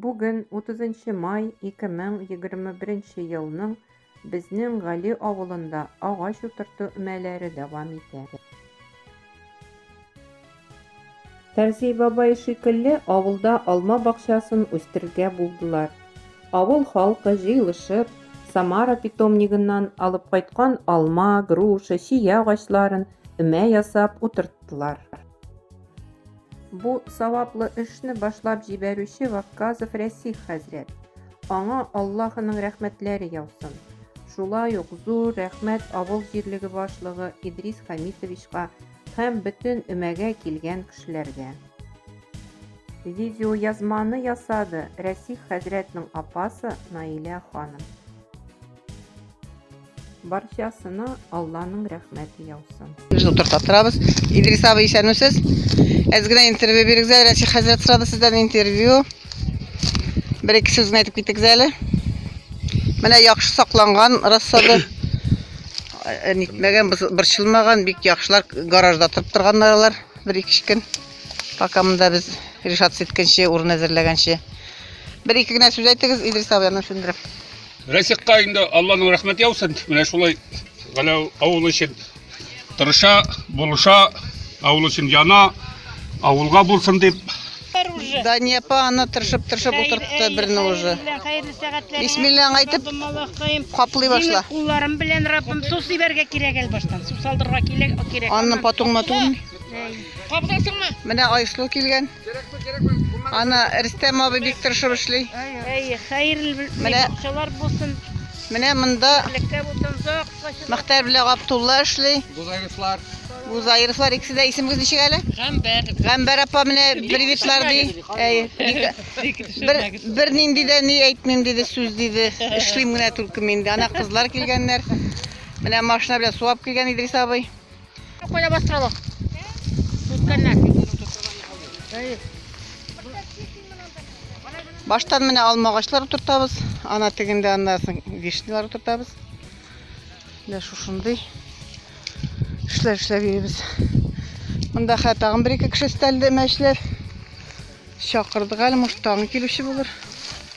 Бүген 30 май 2021 елның безнең Гали авылында агач утырту өмәләре дәвам итә. Фәрзи бабай шикелле авылда алма бакчасын үстерергә булдылар. Авыл халкы җыелышып, Самара питомнигыннан алып кайткан алма, груша, чия агачларын өмә ясап утырттылар. Бу саваплы эшне башлап җибәрүче Вакказов Рәсих хәзрәт. Аңа Аллаһының рәхмәтләре яусын. Шулай ук зур рәхмәт авыл җирлеге башлыгы Идрис Хамитовичка һәм бөтен өмәгә килгән кешеләргә. Видеоязманы ясады Рәсих хәзрәтнең апасы Наилә ханым. Барчасына Алланың рәхмәте яусын. Үзен утырта торабыз. Идрис абый исәнмесез? Әз генә интервью бирегез әле. Рәсих хәзрәт сорады сездән интервью. Бер-ике сүз генә әйтеп китегез әле. Менә яхшы сакланган рассады. Э, нитмәгән, борчылмаган, бик яхшылар гаражда торып торганнар алар. Бер-ике көн. Пока монда без решаться иткәнче, урын әзерләгәнче. Бер-ике генә сүз әйтегез, Идрис абый, аны Рәсихка инде Алланың рәхмәте яусын. Менә шулай Галәү авыл өчен тырыша, булыша, авыл өчен яна, авылга булсын дип. Дания апа аны тырышып тырышып утыртты берне уже. Бисмиллаң әйтеп каплый башла. Кулларым белән Раббым су сибәргә кирәк әле баштан. Су салдырга кирәк. Анны потуңма түгел. Кабдасыңмы? Менә Айсылу килгән. Аны Рөстәм абый бик тырышып эшли. Әйе, хәерле менә акчалар булсын. Менә монда Леккә булсын зак качы. Мөхтәр белән Габдулла эшли. Гузаевлар. Гузаевлар икесе дә исемегез ничек әле? Гамбәр. Гамбәр апа менә привитлар ди. Әйе. Бер бер нинди дә ни әйтмим диде, сүз диде. Эшлим генә только мин. Ана кызлар килгәннәр. Менә машина белән суап килгән Идрис абый. Коля бастыралык. Үткәннәр. Баштан менә алма агачлары утыртабыз. Ана тегендә аннан соң вишнялар утыртабыз. Менә шушындый эшләр эшләп йөрибез. Монда хә тагын бер-ике кеше өстәлде мәчләр. Чакырдык әле, может, тагын килүче булыр.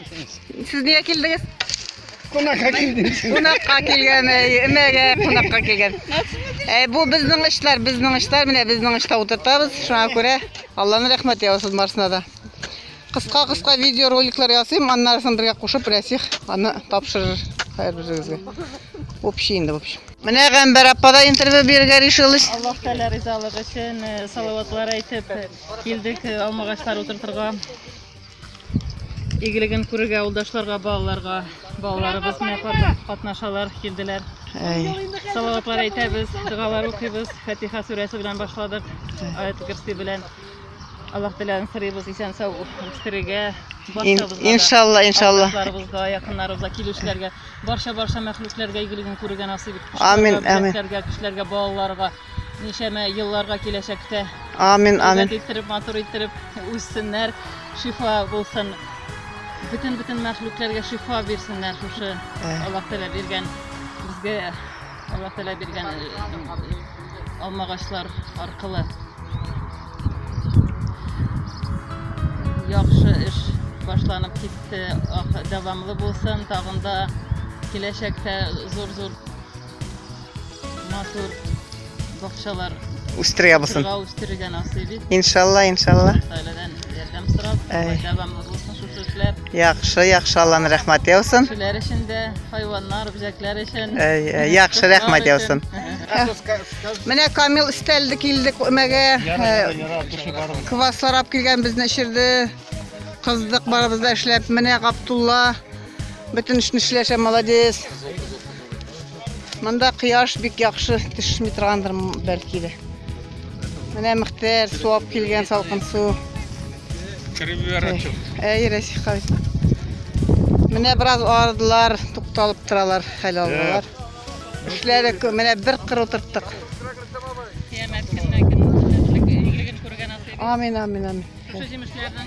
Сез нигә килдегез? Кунакка килдем. Кунакка килгән, эмәгә кунакка килгән. Э, бу безнең эшләр, безнең эшләр, менә безнең эштә утыртабыз. Шуңа күрә Алланы рәхмәт яусын барсына да. Кыска кыска видео роликлар ясыйм, аннарысын бергә кушып Рәсих аны тапшырыр һәр берегезгә. Общий инде, в общем. Менә Гамбар апа да интервью бирергә решилась. Аллаһ Тәгалә ризалыгы өчен э, салаватлар әйтеп э, килдек э, алмагачлар утыртырга. Игелеген күрергә авылдашларга, балаларга, балаларыбыз менә катнашалар, килделәр. Салаватлар әйтәбез, догалар укыйбыз. Фатиха сүрәсе белән башладык. Аят кирси белән Аллаһ теләген сорыйбыз, исән сау үстерергә, барчабызга. Иншалла, иншалла. Авылдашларыбызга, якыннарыбызга, килүчеләргә, барча-барча мәхлукләргә игелеген күрергә насыйп итсен. Амин, амин. Кешеләргә, балаларга. Ничәмә елларга киләчәктә. Амин, амин. Гәзит иттереп, матур иттереп үссеннәр, шифа булсын. Бөтен бөтен мәхлукләргә шифа бирсеннәр шушы э. Аллаһ Тәгалә биргән безгә Аллаһ Тәгалә биргән э, алмагачлар аркылы. Яхшы эш башланып китте, дәвамлы булсын, тагында киләчәктә зур-зур Матур бакчалар үстерәбез. Үстерергә насыйп ит. Иншалла, иншалла. Сайладан ярдәм сорап, дәвамлы булсын шушы эшләр. Яхшы, яхшы, Алланың рәхмәт яусын. Кешеләр өчен дә, хайваннар, бизәкләр өчен. Яхшы, рәхмәт яусын. Менә Камил өстәлде килде күмәгә. Квас сарап килгән безне эшерде. Кыздык барыбыз да эшләп. Менә Гаптулла бөтен эшне эшләшә, молодец. Монда кояш бик яхшы төшми торгандыр бәлки дә. Менә Мөхтәр суап килгән салкын су. Кереп ярачык. Әй, Рәсиха. Менә бераз ардылар, тукталып торалар, хәл алалар. Эшләре күп. Менә бер кыр утырттык. Кыямәт көненә кем игелеген күргән аты. Амин, амин, амин. Шушы җимешләрнең